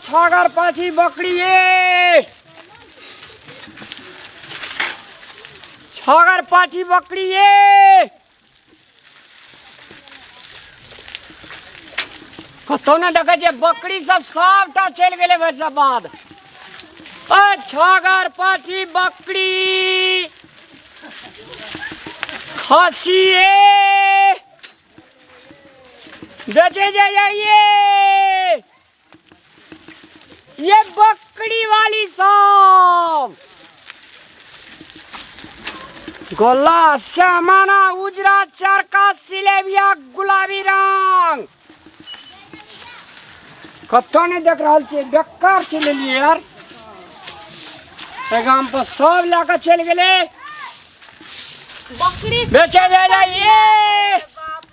छागर पाछी बकरी ए छागर पाछी बकरी ए कतौ ना देखै छै बकरी सब सबटा चलि गेलै भरि सब बाद अ छागर पाछी बकरी खसी ए बेचे जाइए ये बकरी वाली सब गोला श्यामाना उजरा चरका सिलेबिया गुलाबी रंग कतौ नहीं देख रहल छियै बेकार छै लेलियै यार गाम पर सब लए कऽ चलि गेलै बकरी बेचे जाए जाइए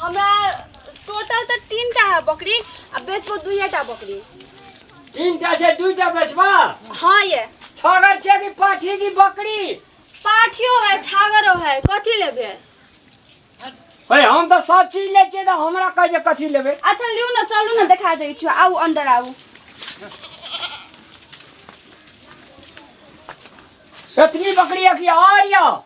हमरा टोटल तऽ तीन टा है बकरी आ बेचबो दुइए टा बकरी तीन टा छै दू टा बेचबा हाँ ये छगर छै कि पाठी की बकरी पाठियो है छागरो है कथी लेबे हे हम तऽ सब चीज लै छियै तऽ हमरा कह जे कथी लेबै अच्छा लियू ना चलू ना देखा दै छियो आउ अंदर आउ एतनी बकरी अखिया आर यऽ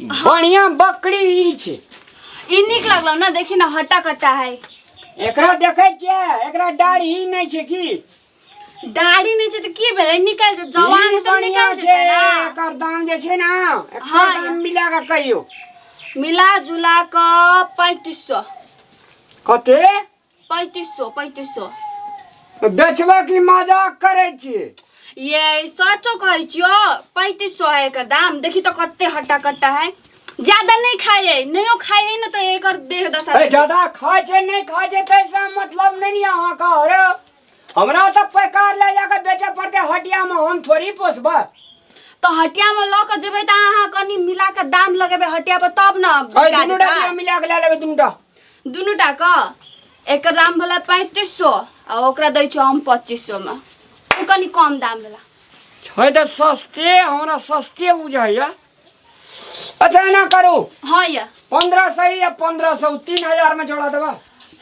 बढ़िया बकरी ई छै ई नीक लगलो ना देखी ना हट्टा कट्टा है एकरा देखै छियै एकरा डाढ़ी नहि छै की दाढ़ी नहीं छै तो की भेलै निकल जाओ जवान ई तो बढ़िया निकल छै जेतै ना एकर दाम जे छै ने एकर हाँ, दाम या। मिला कऽ कहियो मिला जुला क पैंतीस सौ कते पैंतीस सौ पैंतीस सौ बेचबे की मजाक करे छिए ये सचो कहै छियो पैंतीस सौ है एकर दाम देखी तो कते हट्टा कट्टा है ज्यादा नहीं खाए है नहियो खाए है ना तो एकर देह दशा अरे देखी। ज्यादा खाए छे नहीं खाए छे तैसा मतलब नहीं यहाँ का अरे हमरा तो पैकार ले जाकर बेचे पड़ते हटिया में हम थोड़ी पोसबा तो हटिया में लऽ कऽ जेबै तऽ अहाँ कनि मिला कऽ दाम लगेबै हटिया पर तब ने अरे बिका दुनू जेतै। टा मिला के ले लेबे दुनू टा दुनू टा क एकर दाम भेला पैंतीस सौ आ ओकरा दै छौ हम पच्चीस सौ में ओ कनि कम दाम भेला छै तऽ सस्ते हमरा सस्ते बुझाइए अच्छा एना करू हाँ या पंद्रह सौ या पंद्रह सौ तीन हजार में जोड़ा देबा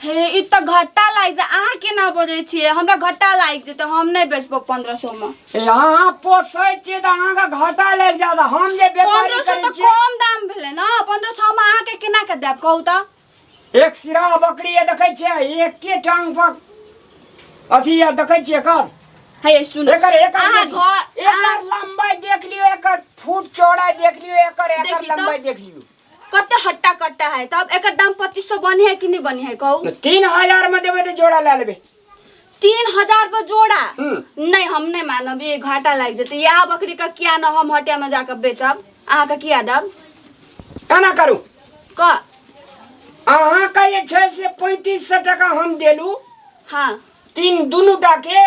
हे ई तऽ घट्टा लागि जाय अहाँ केना बजै छियै हमरा घट्टा लागि जेतै हम नहि बेचबो पंद्रह सौ में यहाँ पोसै छियै तऽ अहाँके घाटा लागि जायत हम जे व्यापारी पंद्रह सौ करै तो छियै कम दाम भेले ना पंद्रह सौ हम अहाँ के केना के देब कहू तो एक सिरा बकरी ये देखै छियै एके टांग पर अथी ये देखै छियै एकर है सुनो एकर एकर अहाँ देख- घर एकर अहाँ- लंबाई देख लियो एकर फुट चौड़ाई देख लियो एकर एकर देखी तो। लंबाई देख लियो कते हट्टा कट्टा है तब एकर दाम पच्चीस सौ बनी है कि नहीं बनी है कहू तो तीन हजार में देबे तो जोड़ा ले लेबे तीन हजार पर जोड़ा हम्म। नहीं हम नहीं मानब ये घाटा लग जते यह बकरी का किया न हम हटिया में जाकर बेचब अहाँ का किया दब केना करू क अहाँ का जे छै से पैंतीस सौ टका हम देलू हाँ तीन दुनू टा के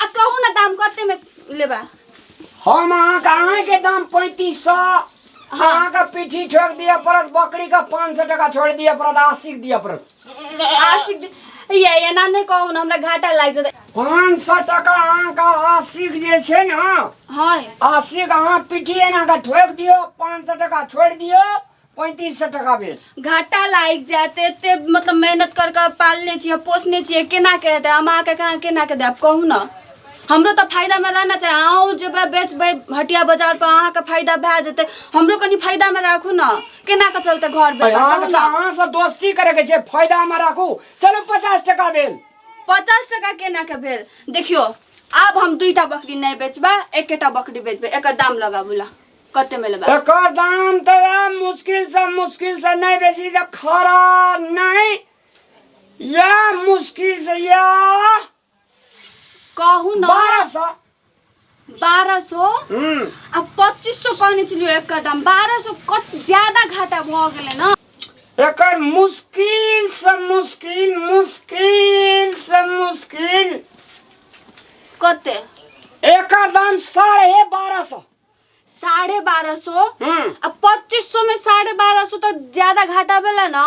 आ कहू ना दाम कते में लेबा हम अहाँ का अहाँ के दाम पैंतीस सौ अहाँ का पीठी ठोक दिया पड़त बकरी का पाँच सौ टका छोड़ दिया पड़त अस्सी के दिया पड़त आशिक जी, ये ये ना नहीं कहू ना हमरा घाटा लाग जाता पाँच सौ टका अहाँ का अस्सी के जे छै ने हाँ अस्सी के अहाँ पीठी एना का ठोक दियो पाँच सौ टका छोड़ दियो पैंतीस सौ टका भेल घाटा लागि जायत एते मतलब मेहनत कर कऽ पालने छियै पोसने छियै केना के हेतै हम अहाँके कहाँ केना के देब कहू ने हमरो तऽ फायदामे रहना चाही अहूँ जेबै बेचबै हटिया बाजार पर अहाँके फायदा भए जेतै हमरो कनि फायदामे राखू ने केना के चलतै घर बेटा कहू अहाँके ने अहाँ से दोस्ती करे के छै फायदा में राखू चलो पचास टका भेल पचास टका केना के भेल देखियो आब हम दुईटा बकरी नहि बेचबै एकेटा बकरी बेचबै एकर दाम लगाबू ला कते में लेबा एकर दाम तो यार मुश्किल से मुश्किल से नहीं बेसी तो खरा नहीं या मुश्किल से या कहू ना बारह सौ बारह सौ हम्म आ पच्चीस सौ कहने चलियो एक का दाम बारह सौ कत ज्यादा घाटा भ गेले ना एकर मुश्किल से मुश्किल मुश्किल से मुश्किल कते एकर दाम साढ़े बारह सौ साढ़े बारह सौ हम्म अब पच्चीस सौ में साढ़े बारह सौ तो ज्यादा घाटा भेला ना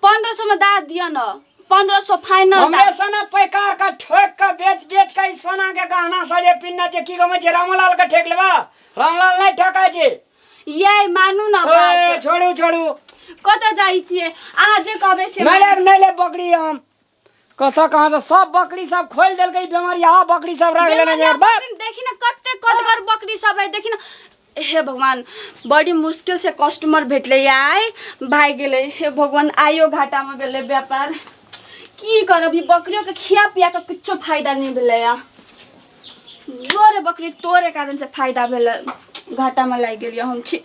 पंद्रह सौ में दा दिया ना पंद्रह सौ फाइनल हमरे सना पैकार का ठोक का बेच बेच का ई सोना के गहना सजे पिन्ना जे की गमे जे रामलाल का ठेक लेबा रामलाल नहीं ठका जे ये मानू ना ओए बात छोड़ू छोड़ू कत जाई छिए अहाँ जे कहबे से नहीं लेब नहीं लेब बकरी हम कतऽ कहाँ तऽ सब बकरी सब खोलि देलकै बेमारिया बकरी सब रख लेने बेमरिया जाए बा बकरी देखी ना कते कटगर बकरी सब है देखी ना हे भगवान बड़ी मुश्किल से कस्टमर भेटले आय भाग गेले हे भगवान आयो घाटा में गेले व्यापार की करब ई बकरियों के खिया पिया के कुछो फायदा नहीं भेले या जोरे बकरी तोरे कारण से फायदा भेले घाटा में लाग गेलियो हम छी